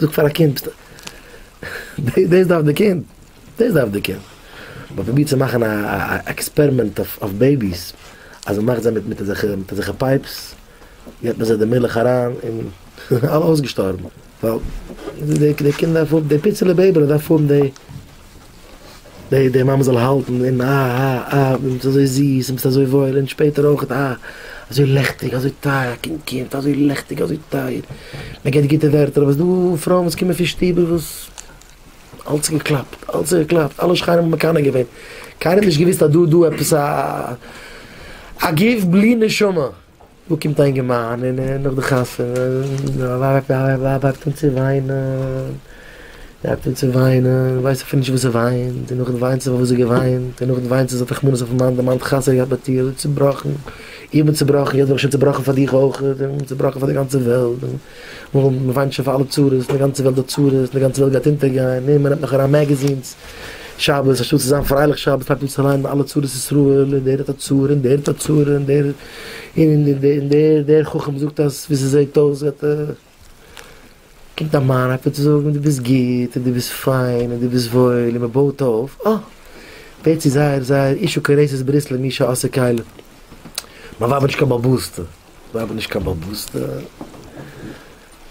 זאג פאר א קינד, דאס דארף די קינד, דאס דארף די קינד. מען פרובירט צו מאכן א עקספערימענט אויף בעיביס, אז מען מאכט זיי מיט אזעלכע פייפס, געבט מען זיי די מילך אריין, און אלע אויסגעשטארבן, ווייל די קינד דארף האבן, די פיצעלע בעיבי'לע דארף האבן די. די מאמע זאל האלטן און אה אה אה דו ביסט אזוי זיס און ביסט אזוי וואויל און שפעטער אויכעט אה אזוי לעכטיג אזוי טייער א קינד קומט אזוי לעכטיג אזוי טייער מען געבט גוטע ווערטער אבער ס'דא פרויען וואס קומען פון שטוב וואס אלס איז געקלאפט אלס איז געקלאפט אלע שכנים האבן מקנא געווען קיינער האט נישט געוויסט אז דא איז דא עפעס א א גוף בלי נשמה. דא קומט א אינגערמאן און נאך די חתונה ווייב הייבט אן צו וויינען, זי הייבט אן צו וויינען, ווייסט אפילו נישט וואס זי וויינט, און נאכדעם וויינט זי פארוואס זי האט געוויינט, און נאכדעם וויינט זי זי האט רחמנות אויפן מאן, די מאן האט חתונה געהאט מיט איר, צובראכן, איך בין צובראכן, יעצט בין איך שוין צובראכן פאר דיך אויכעט, און צובראכן פאר די גאנצע וועלט. וואו מען וויינט שוין פאר אלע צרות, אין די גאנצע וועלט דא צרות, אין די גאנצע וועלט גייט אונטערגיין, נו מען נעמט נאך אריין מעגעזינס שבת, אנשטאט צו זיין פרייליך שבת פאנגט מען אן צו ליינען אלע צרות ישראל, און דער האט א צרה, און דער האט א צרה, און דער און און דער דער חכם זאגט אז ווי ס'זעט אויס וועט ער, קומט א מאן הייבט אן צו זאגן דו ביסט גוט, און דו ביסט פיין, און דו ביסט וואויל, און מען בויט אויף, אה! ווערט צו זייער זייער איש וקרעסס ברית למי שעשה כלים, מיין ווייב האט נישט קיין באבא'סטע. מ'האב נישט קיין באבוסטע.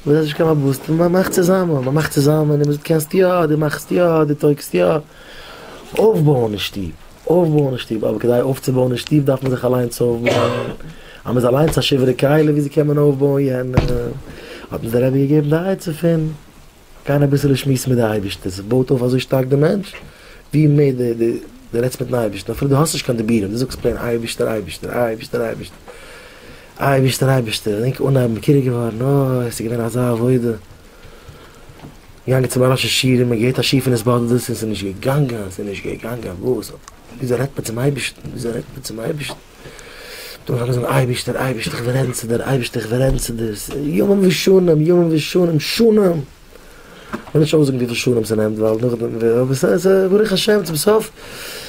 מ'האט נישט קיין באבוסטע, מ'מאכט צוזאמען, מ'מאכט צוזאמען, און מ'זאגט קענסט יא, דו מאכסט יא, דו טויגסט יא. אויפבויען א שטוב, אויפבויען א שטוב, אבער כדי אויפצובויען א שטוב דארף מען זיך אליינס אויפבויען. אז מ'איז אליינס א שוברי כלים, וויאזוי קען מען אויפבויען יענעם? האט מיר דער רבי געגעבן די עצה פון. גיין אביסעלע שמועסן מיט די אייבישטער, זיך בויט אויף אזוי שטארק די מענטש, ווי מער די די די רעדסט מיטן אייבישטער, אפילו די האסט נישט קיין דיבורים, די זאגסט פלעין אייבישטער אייבישטער אייבישטער אייבישטער אייבישטער אייבישטער, און ענק אנהייבן מכיר געווארן, אוי עס איז געווען אזא עבודה, געגאנגען צום אנ ש שיעורים און געהערט א שיעור פון עס באדערט דאס און עס איז נישט געגאנגען עס איז נישט געגאנגען וואס, וויאזוי רעדט מען צום אייבישטן וויאזוי רעדט מען צום אייבישטן. דורך אלעס זאגן אייבישטער אייבישטער איך וויל רעדן צו דיר אייבישטער איך וויל רעדן צו דיר ימים ושנים ימים ושנים שנים כ'וועל נישט אויסזאגן וויפיל שנים ס'נעמט ווייל נאכדעם אבער ס'איז ברוך השם צום סוף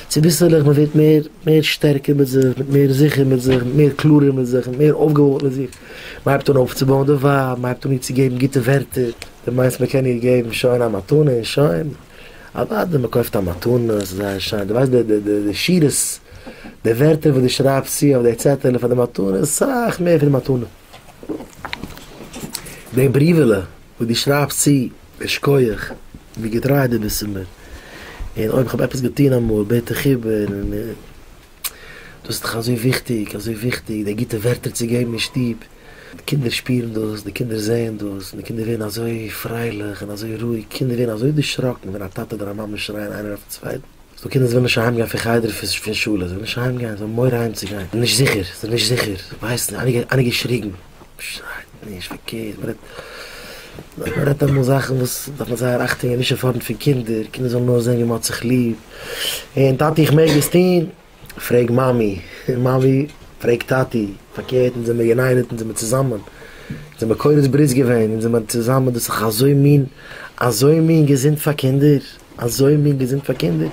צוביסלעך מ'ווערט מער מער שטערקער מיט זיך מיט מער זיכער מיט זיך מיט מער קלארער מיט זיך מיט מער אויפגעבויט מיט זיך מ'הייבט אן אויפצובויען די ווייב מ'הייבט אן איר צו געבן גוטע ווערטער די מיינסט מ'קען איר געבן שוין א מתנה און שוין. אוואדי מען קויפט א מתנה ס'איז זייער שיין די ווייסט די די די שורות די ווערטער וואס די שרייבסט צו אויף די צעטעלע פאר די מתנה איז סאך מער פון די מתנה די בריוועלע וואס די שרייבסט צו שכוח ווי געטריי די ביסט צו מיר און אויב כ'האב עפעס געטון אמאל בעט איך איבער און. דאס איז דאך אזוי וויכטיג, אזוי וויכטיג די גוטע ווערטער צו געבן אין שטוב, די קינדער שפירן דאס, די קינדער זעען דאס, און די קינדער ווערן אזוי פרייליך און אזוי רואיג, קינדער ווערן אזוי דערשראקן ווען א טאטע אדער א מאמע שרייען איינער אויפן צווייטן, ס'דא קינדער וואס ווילן נישט אהיימגיין פון חדר און פון שולע, זיי ווילן נישט אהיימגיין, זיי האבן מורא אהיימצוגיין, זיי זענען נישט זיכער, זיי האבן נישט זיכער, זיי ווייסן, איינער האט געשריגן. שרייט נישט פארקערט, מען רעדט מען רעדט אמאל זאכן וואס דארף מען זייער אכטונג געבן נישט אין פארנט פון קינדער, קינדער זאלן נאר זען ווי מען האט זיך ליב, און טאטי איך מעג עס טון? פרעג מאמי, און מאמי פרעג טאטי, פארקערט אונז זעמיר יונייטעד אונז זעמיר צוזאמען, אונז זעמיר קולות ברית געווען, אונז זעמיר צוזאמען דאס איז דאך אזוי מין אזוי מין געזונט פאר קינדער, אזוי מין געזונט פאר קינדער.